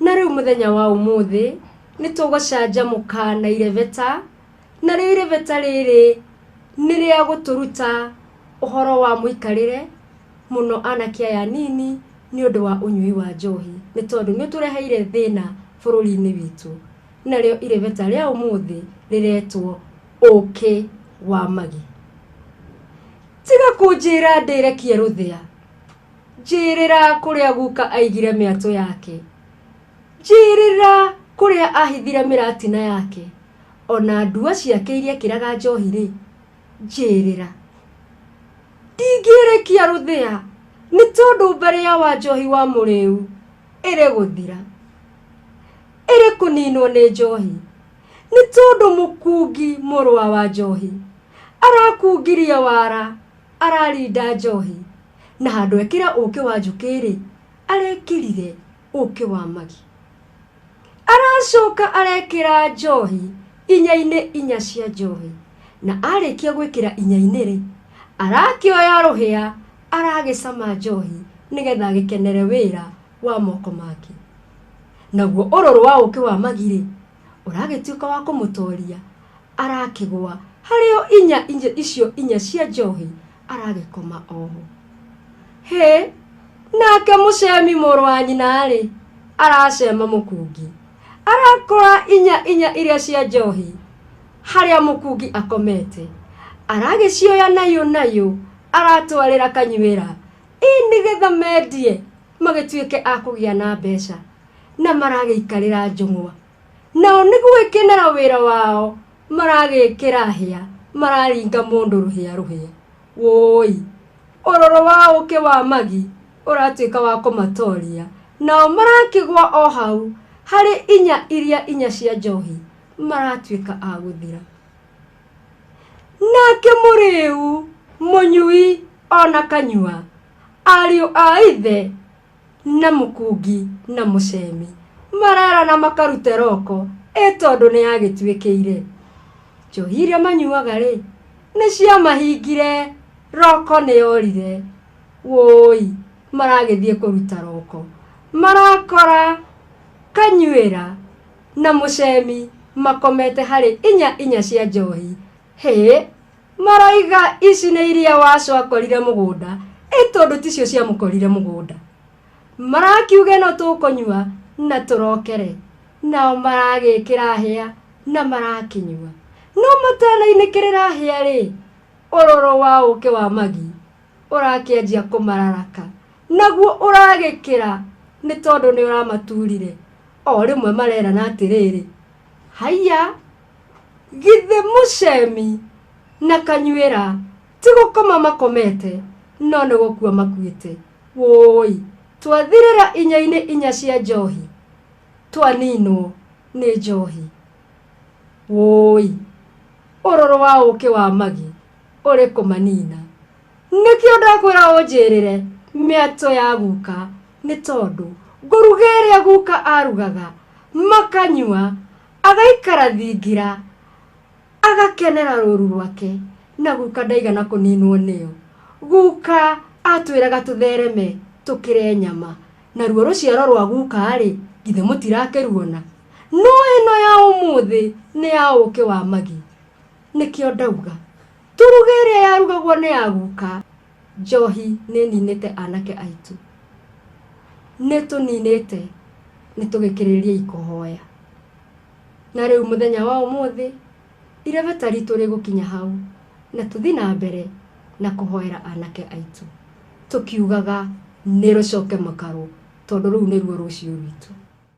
Na rĩu mũthenya wa ũmũthĩ nĩ tũgũcanjamũka na irebeta, narĩo irebeta rĩrĩ nĩ rĩa gũtũruta ũhoro wa mũikarĩre mũno anake aya anini nĩ ũndũ wa ũnyui wa njohi, nĩ tondũ nĩ ũtũreheire thĩna bũrũri-inĩ witũ. Narĩo irebeta rĩa ũmũthĩ rĩretwo ũkĩ wa magi. Tiga kũnjĩra ndĩrekie rũthĩa, Njĩĩrĩra kũrĩa guka aigire mĩatũ yake, Njĩĩrĩra kũrĩa ahithire mĩratina yake, O na ndua ciake iria ekĩraga njohi-rĩ, njĩĩrĩra. Ndingĩĩrĩkia rũthĩa, nĩ tondũ mbarĩa wa njohi wa mũrĩu ĩrĩgũthira, Ĩrĩkũninwo nĩ njohi, nĩ tondũ mũkungi mũrũa wa njohi, Arakungiria wara, ararinda njohi. Na handũ ekĩre ũkĩ wa njũkĩ-rĩ, arekĩrire ũkĩ wa magi. Aracoka arekĩra njohi inya-inĩ inya cia njohi. Na arĩkia gwĩkĩra inya-inĩ-rĩ, arakĩoya rũhĩa aragĩcama njohi nĩgetha agĩkenere wĩra wa moko make. Naguo ũrũrũ wa ũkĩ wa magi-rĩ... ũragĩtuĩka wa kũmũtoria arakĩgwa harĩo inya inya icio inya cia njohi aragĩkoma oho hĩ nake mũcemi mũrũ wa nyina-rĩ aracema mũkungi arakora inya inya iria cia njohi harĩa mũkungi akomete aragĩcioya nayo nayo aratwarĩra kanyuĩra ĩ nĩgetha mendie magĩtuĩke a kũgĩa na mbeca na maragĩikarĩra njũng'wa nao nĩ gũgĩkenera wĩra wao maragĩkĩra hĩa mararinga mũndũ rũhĩa rũhĩa wũi ũrũrũ wa ũkĩ wa magi ũratuĩka wa kũmatoria nao marakĩgwa o hau harĩ inya iria inya cia njohi maratuĩka a gũthira nake mũrĩu mũnyui ona kanyua ariũ a ithe na mũkungi na mũcemi marerana makarute roko ĩ tondũ nĩ yagĩtuĩkĩire njohi iria manyuaga rĩ nĩ ciamahingire roko nĩ yorire wũi maragĩthiĩ kũruta roko marakora kanyuĩra na mũcemi makomete harĩ inya inya cia njohi hĩ Maroiga ici nĩ iria wacu akorire mũgũnda, ĩ tondũ ticio ciamũkorire mũgũnda. Marakiuga ĩno tũkũnyua na tũrokere, nao maragĩkĩra hĩa na marakĩnyua. No matanainĩkĩrĩra hĩa-rĩ, ũrũrũ wa ũkĩ wa magi ũrakĩanjia kũmararaka, naguo ũragĩkĩra nĩ tondũ nĩ ũramaturire. O rĩmwe marerana atĩrĩrĩ, Haiya! githĩ mũcemi na kanyuĩra ti gũkoma makomete no nĩ gũkua makuĩte wũi twathirĩra inya-inĩ inya cia njohi twaninwo nĩ njohi wũi ũrũrũ wa ũkĩ wa magi ũrĩ kũmanina nĩkĩo ndakwĩra ũnjĩrĩre mĩatũ ya guka nĩ tondũ ngũruga ĩrĩa guka arugaga makanyua Agaikara thingira, agakenera rũũru rwake, na guka ndaigana kũniinwo nĩyo. Guka aatwĩraga tũthereme tũkĩre nyama, naruo rũciaro rwa guka-rĩ, githĩ mũtirakĩruona? No ĩno ya ũmũthĩ nĩ ya ũũkĩ wa magi. Nĩkĩo ndauga, Tũruge ĩrĩa yarugagwo nĩ ya guka. Njohi nĩ ĩninĩte anake aitũ. Nĩ ĩtũninĩte, nĩ tũgĩkĩrĩriei kũhoya. Na rĩu mũthenya wa ũmũthĩ, irebeta ritũ rĩgũkinya hau na tũthiĩ na mbere na kũhoera anake aitũ, tũkiugaga, Nĩ rũcoke mũkarũ, tondũ rũu nĩruo rũciũ rwitũ.